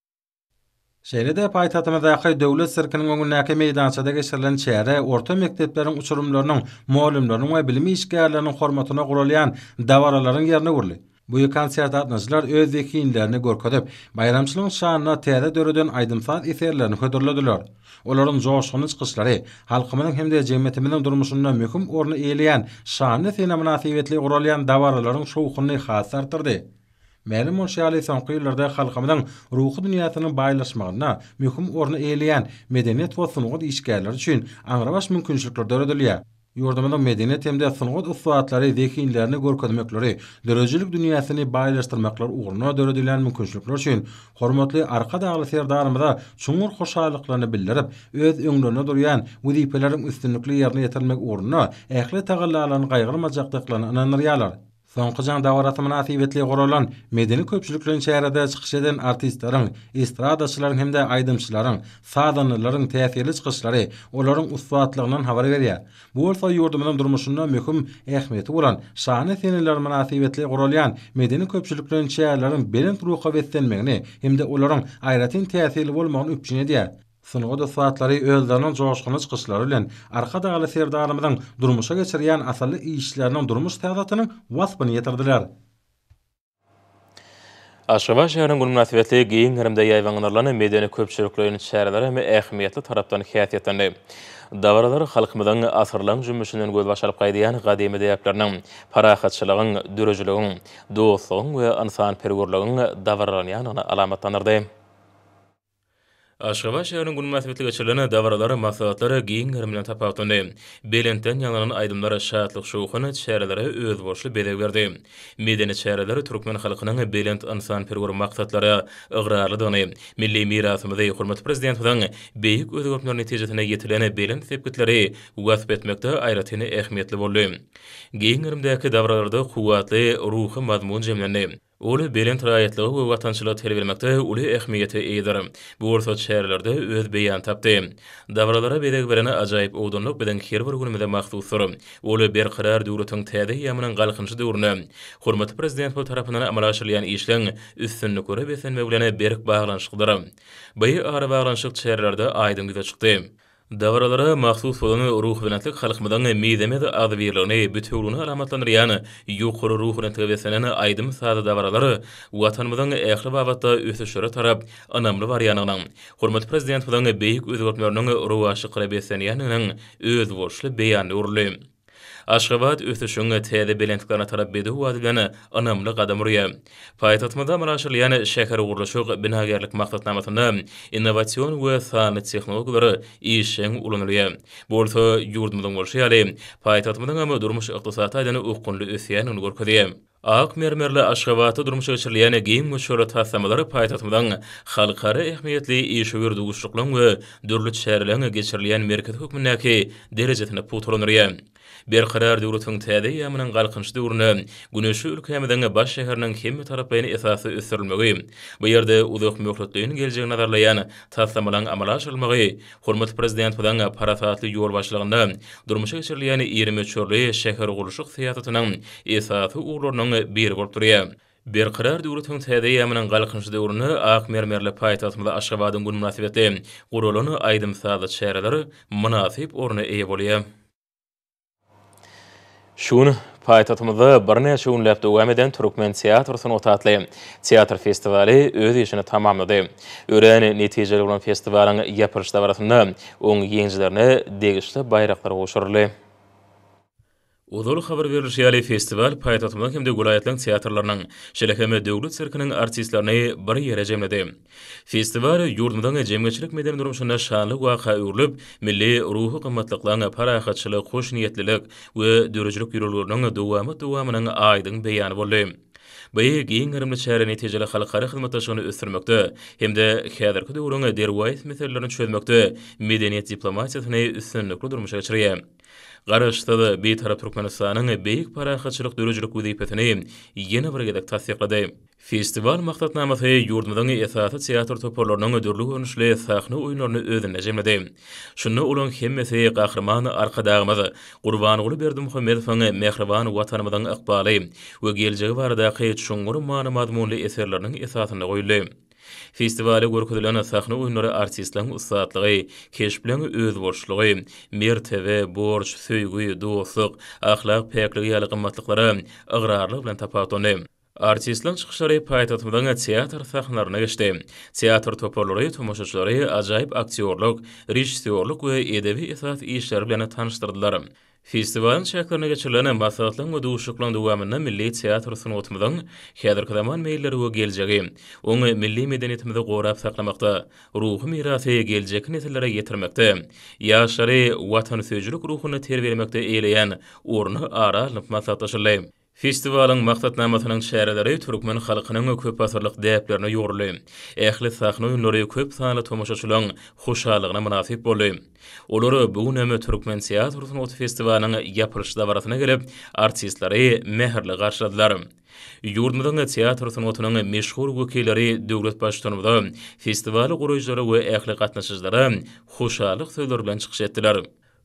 Şeýle-de paýtagtymyzdaky Döwlet sirkiniň öňündäki meýdançada geçirilen çäre orta mekdepleriň uçurymlarynyň, mugallymlaryň we bilim işgärleriniň hormatyna guralýan dabaralaryň ýerine öwrüldi. Bu konsertde gatnaşyjylar öz zehinlerini görkezip, baýramçylygyň şanyna täze döreden aýdym-saz eserlerini hödürlediler. Olaryň joşgunly çykyşlary halkymyzyň hem-de jemgyýetimiziň durmuşynda möhüm orny eýeleýän şanly sene mynasybetli guralýan dabaralaryň şowhunyny has artdyrdy. Mälim bolşy ýaly, soňky ýyllarda halkymyzyň ruhy dünýäsiniň baýlaşmagynda möhüm orny eýeleýän medeniýet we sungat işgärleri üçin aňrybaş mümkinçilikler döredilýär. Ýurdumyzyň medeniýet hem-de sungat ussatlary zehinlerini görkezmekleri, döredijilik dünýäsini baýlaşdyrmaklary ugrunda döredilýän mümkinçilikler üçin hormatly Arkadagly Serdarymyza çuňňur hoşallyklaryny bildirip, öz öňlerinde durýan wezipeleriň üstünlikli ýerine ýetirilmegi ugrunda ähli tagallalaryny gaýgyrmajakdyklaryna ynandyrýarlar. Soňky jaň dabarasy mynasybetli guralan medeni-köpçülikleýin çärede çykyş eden artistleriň, estradaçylaryň hem-de aýdymçylaryň, sazandalaryň täsirli çykyşlary olaryň ussatlygyndan habar berýär. Bu bolsa ýurdumyzyň durmuşynda möhüm ähmiýeti bolan şanly seneler mynasybetli guralýan medeni-köpçülikleýin çäreleriň belent ruha beslenmegini hem-de olaryň aýratyn täsirli bolmagyny üpjün edýär. Sungat ussatlary özleriniň joşgunly çykyşlary bilen Arkadagly Serdarymyzyň durmuşa geçirýän asylly işleriniň durmuş syýasatynyň waspyny ýetirdiler. Aşgabat şäheriniň güni mynasybetli giň gerimde ýaýbaňlandyrylan medeni-köpçülikleýin çäreler hem ähmiýetli tarapdan häsiýetlendi. Dabaralar halkymyzyň asyrlaň jümmüşinden gözbaş alyp gaýdýan gadymy däpleriniň, parahatçylygyň, dörejiligiň, dostlugyň we ynsanperwerligiň dabaralanýandygyny alamatlandyrdy. Aşgabat şäheriniň güni mynasybetli geçirilen dabaralar, maslahatlar giň gerim bilen tapawutlandy. Belentden ýaňlanan aýdymlar şatlyk-şowhun çärelere özboluşly bezeg berdi. Medeni çäreler türkmen halkynyň belent ynsanperwer maksatlara ygrarlydygyny, milli mirasymyzy, hormatly Prezidentimiziň beýik özgertmeleri netijesinde ýetilen belent sepgitleri wasp etmekde aýratyn ähmiýetli boldy. Giň gerimdäki dabaralarda kuwwatly ruhy mazmun jemlendi. Ol belent raýatlyga we watançylyga terbiýelemekde uly ähmiýete eýedir. Bu bolsa çärelerde öz beýanyny tapdy. Dabaralara bezeg beren ajaýyp owdanlyk biziň her bir günümize mahsusdyr. Ol Berkarar döwletiň täze eýýamynyň Galkynyşy döwründe hormatly Prezidentimiz tarapyndan amala aşyrylýan işleň üstünliklere beslenmegi bilen berk baglanyşyklydyr. By arabaglanyşyk çärelerde aýdyň ýüze çykdy. Dabaralara mahsus bolan ruhubelentlik halkymyzyň mizemez agzybirligini, bütewüligini alamatlandyrýan ýokary ruhubelentlige beslenen aýdym-sazly dabaralar Watanymyzyň ähli babatda ösüşlere tarap ynamly barýandygynyň, hormatly Prezidentimiziň beýik özgertmeleriniň rowaçlyklara beslenýändiginiň özboluşly beýanyna öwrüldi. Aşgabat ösüşiň täze belentliklere tarap bedew wagt bilen ynamly gadam urýar. Paýtagtymyzda amala aşyrylýan şähergurluşyk, binagärlik maksatnamasynda innowasion we sanly tehnologiýalar işjeň ulanylýar. Bu bolsa ýurdumyzyň bolşy ýaly, paýtagtymyzyňam durmuş-ykdysady taýdan okgunly ösýändigini görkezýär. Ak mermerli Aşgabatda durmuşa geçirilýän giň möçberli taslamalar paýtagtymyzyň halkara ähmiýetli işewür duşuşyklaryň we dürli çäreleriň geçirilýän merkezi hökmündäki derejesini pugtalandyrýar. Berkarar döwletiň täze eýýamynyň Galkynyş döwründe güneşli ülkämiziň baş şäheriniň hemmetaraplaýyn esasda ösdürilmegi, bu ýerde uzakmöhletleýin geljegi nazarlaýan taslamalaryň amala aşyrylmagy Hormatly Prezidentimiziň parasatly ýolbaşçylygynda durmuşa geçirilýän iri möçberli şähergurluşyk syýasatynyň esasy ugurlarynyň biri bolup durýar. Berkarar döwletiň täze eýýamynyň Galkynyşy döwründe ak mermerli paýtagtymyz Aşgabadyň güni mynasybetli guralan aýdym-sazly çäreler mynasyp orna eýe bolýar. Şu gün paýtagtymyzda birnäçe günläp dowam eden Türkmen teatr sungaty atly teatr festiwaly öz işini tamamlady. Örän netijeli bolan festiwalyň ýapylyş dabarasynda oň ýeňijilerine degişli baýraklar gowşuryldy. Ozal habar berlişi ýaly, festiwal paýtagtymyzyň hem-de welaýatlaryň teatrlarynyň, şeýle hem Döwlet sirkiniň artistlerini bir ýere jemledi. Festiwal ýurdumyzyň jemgyýetçilik-medeni durmuşynda şanly waka öwrülip, milli ruhy gymmatlyklaryň, parahatçylyk, hoşniýetlilik we döredijilik ýörelgeleriniň dowamat-dowamynyň aýdyň beýany boldy. Bu giň gerimli çäre netijeli halkara hyzmatdaşlygyny ösdürmekde hem-de häzirki döwrüň derwaýys meselelerini çözmekde medeniýet diplomatiýasyny üstünlikli durmuşa geçirýär. Garaşsyz, Bitarap Türkmenistanyň beýik parahatçylyk döredijilik wezipesini ýene bir gezek tassyklady. Festiwal maksatnamasy ýurdumyzyň esasy teatr toparlarynyň dürli görnüşli sahna oýunlaryny özünde jemledi. Şunda olaryň hemmesi Gahryman Arkadagymyz Gurbanguly Berdimuhamedowyň mähriban Watanymyzyň ykbaly we geljegi baradaky çuňňur many-mazmunly eserleriniň esasynda goýuldy. Festiwalda görkezilen sahna oýunlary artistleň ussatlygy, keşbleň özboluşlygy, mertebe, borç, söýgi, dostluk, ahlak päkligi ýaly gymmatlyklara ygrarlyk bilen tapawutlandy. Artistleň çykyşlary paýtagtymyzyň teatr sahnalarynda geçdi. Teatr toparlary tomaşaçylary ajaýyp aktýorlyk, režissýorlyk we edebi esas işleri bilen tanyşdyrdylar. Festiwalyň çäklerinde geçirilen maslahatlaryň we duşuşyklaryň dowamynda milli teatr sungatymyzyň häzirki zaman meýilleri we geljegi, oňa milli medeniýetimizi gorap saklamakda, ruhy mirasy geljekki nesillere ýetirmekde, ýaşlary watansöýüjilik ruhunda terbiýelemekde eýeleýän orny ara alnyp maslahatlaşyldy. Festiwalyň maksatnamasynyň çäreleri türkmen halkynyň köpasyrlyk däplerine ýugruly, ähli sahna oýunlary köp sanly tomaşaçylaryň hoşallygyna mynasyp boldy. Olar bu gün hem türkmen teatr sungaty festiwalynyň ýapylyş dabarasyna gelip, artistleri mähirli garşyladylar. Ýurdumyzyň teatr sungatynyň meşhur wekilleri döwlet Baştutanymyza, festiwaly guraýjylara we ähli gatnaşyjylara hoşallyk sözleri bilen çykyş etdiler.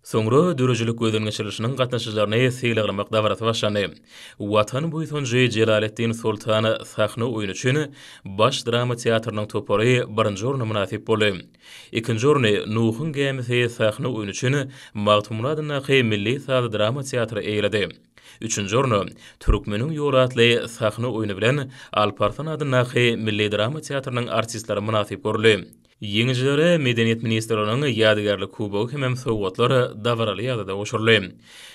Soňra döredijilik gözüňeçirilişiniň gatnaşyjylaryny sylaglamak dabarasy başlandy. Watan buýsanjy Jelaletdin Soltan sahna oýny üçin Baş drama teatrynyň topary birinji orna mynasyp boldy. Ikinji orny Nuhuň gämisi sahna oýny üçin Magtymguly adyndaky milli saz drama teatry eýeledi. Üçünji orny Türkmeniň ýoly atly sahna oýny bilen Alp Arslan adyndaky milli drama teatrynyň artistleri mynasyp görüldi. Ýeňijilere Medeniýet ministrliginiň ýadygärlik kubogy hemem sowgatlar dabaraly ýagdaýda gowşuryldy.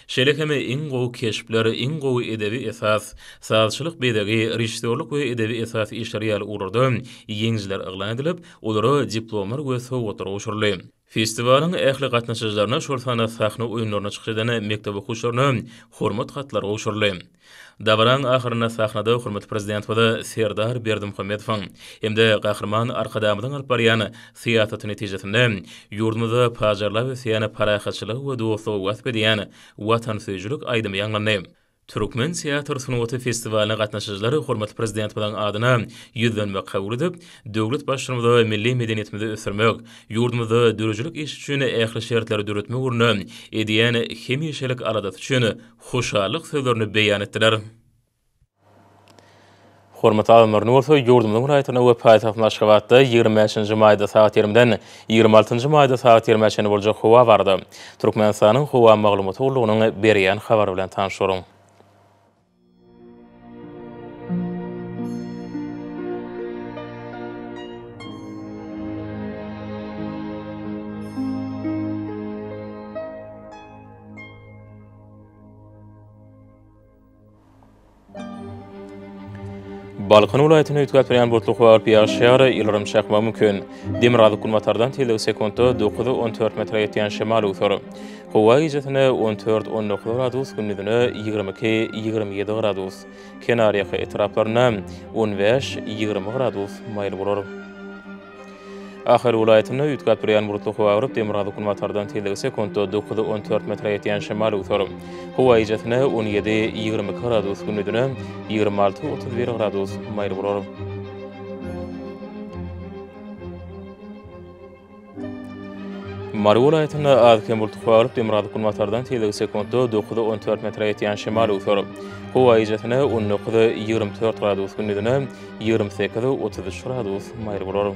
Şeýle hem iň gowy keşpler, iň gowy edebi esas, sazçylyk bezegi, režissýorlyk we edebi esas işleri ýaly ugurlarda ýeňijiler yglan edilip, olara diplomlar we sowgatlar gowşuryldy. Festiwalyň ähli gatnaşyjylaryna, şol sanda sahna oýunlaryna çykyş eden mekdep okuwçylaryna Hormat hatlary gowşuryldy. Dabaranyň ahyrynda sahnada hormatly Prezidentimize Serdar Berdimuhamedowyň hem-de Gahryman Arkadagymyzyň alyp barýan syýasaty netijesinde ýurdumyzda pajarlap ösýän parahatçylygy we dostlugy wasp edýän watansöýüjilik aýdymy ýaňlandy. Türkmen teatr sungaty festiwalyna gatnaşyjylar hormatly Prezidentimiziň adyna ýüzlenme kabul edip, döwlet Baştutanymyza milli medeniýetimizi ösdürmek, ýurdumyzda döredijilik işi üçin ähli şertleri döretmek ugrunda edýän hemişelik aladasy üçin hoşallyk sözlerini beýan etdiler. Hormatly adamlar, indi bolsa ýurdumyzyň raýatynda we paýtagtymyz Aşgabatda ýigrimi bäşinji maýda sagat ýigriminden ýigrimi altynjy maýda sagat ýigrimi-ä çenli boljak howa barada Türkmenistanyň Howa maglumat gullugynyň berýän habary bilen tanyşalyň. Balkan welaýatyny üýtgäp berýän butlyk wagt ýaşýar, ýyldyrym çakmagy mümkin. Demirgazyk-günbatardan tizligi sekuntda dokuz-on dört metre ýetýän şemal öwser. Howa gijesine on dört, on dokuz gradus, gündizine ýigrimi iki, ýigrimi ýedi gradus. Kenarýaka etraplarynda on bäş, ýigrimi gradus maýyl bolar. Ahal welaýatynda üýtgäp durýan bulutly howa gyryp, demirgazyk-günbatardan tizligi sekuntda dokuz, on dört metre ýetýän şemal öwser. Howa gijesine on ýedi, ýigrimi iki gradus, gündizine ýigrimi alty, otuz bir gradus maýyl bolar. Mary welaýatynda az-kem bultly howa alyp, demirgazyk günbatardan tizligi sekuntda dokuza on dört metre ýetýän şemal öwser. Howa ejesine on dokuz, ýigrimi dört gradus, gündizine ýigrimi sekiz, otuz üç gradus maýyl bolar.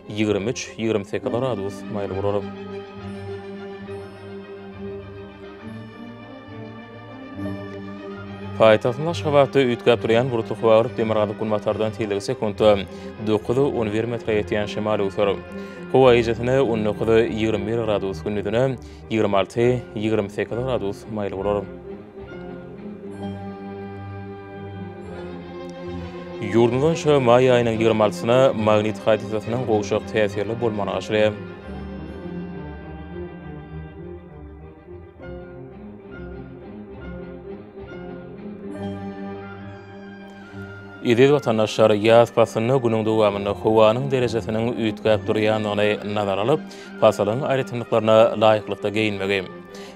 Ýigrimi üç, ýigrimi sekiz gradus maýyl guraryn. Paýtagtyň Aşgabatda üýtgäp durýan bulutly howa gyryp, demirgazyk-günbatardan tizligi sekuntda dokuz-on bir metre ýetýän şemal öwser. Howa gijäsine on dokuz-ýigrimi bir gradus, gündizine ýigrimi alty-ýigrimi sekiz gradus maýyl bolar. Ýurdumyz boýunça maý aýynyň ýigrimi altysyna magnit hadysasynyň gowşak täsirli bolmagyny garşylaýar. Eziz watandaşlar, ýaz paslynda günüň dowamynda howanyň derejesiniň üýtgäp durýandygyny nazara alyp, pasylyň aýratynlyklaryna laýyklykda geýinmegi,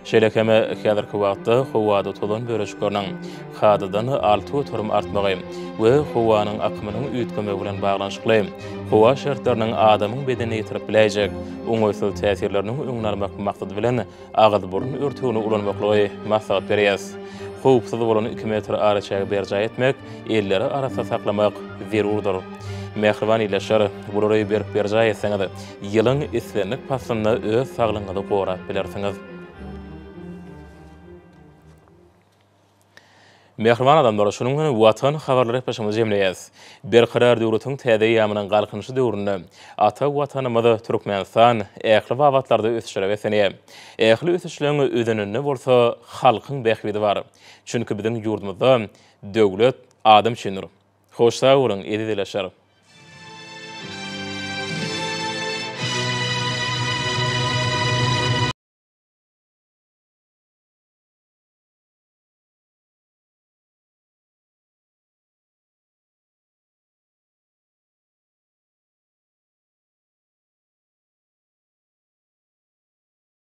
Şeýle hem häzirki wagtda howada tozan bölejikleriniň kadadan alty göterim artmagy we howanyň akymynyň üýtgemegi bilen baglanyşykly howa şertleriniň adamyň bedenine ýetirip biläýjek oňaýsyz täsirleriniň öňüni almak maksady bilen agyz-burun örtügini ulanmaklygy maslahat berýäs. Howpsuz bolan iki metr araçägi berjaý etmek, elleri arassa saklamak zerurdyr. Mähriban ildeşler, bulary berk berjaý etseňiz, Ýylyň islendik paslynda öz saglygyňyzy gorap bilersiňiz. Mähriban adamlar, şunuň bilen Watan habarlary gepleşigimizi jemleýäs. Berkarar döwletiň täze eýýamynyň Galkynyşy döwründe ata Watanymyz Türkmenistan ähli babatlarda ösüşlere beslenýär. Ähli ösüşleň özeninde bolsa halkyň bähbidi bar. Çünki biziň ýurdumyzda döwlet adam üçindir. Hoş sag boluň eziz ilaşar.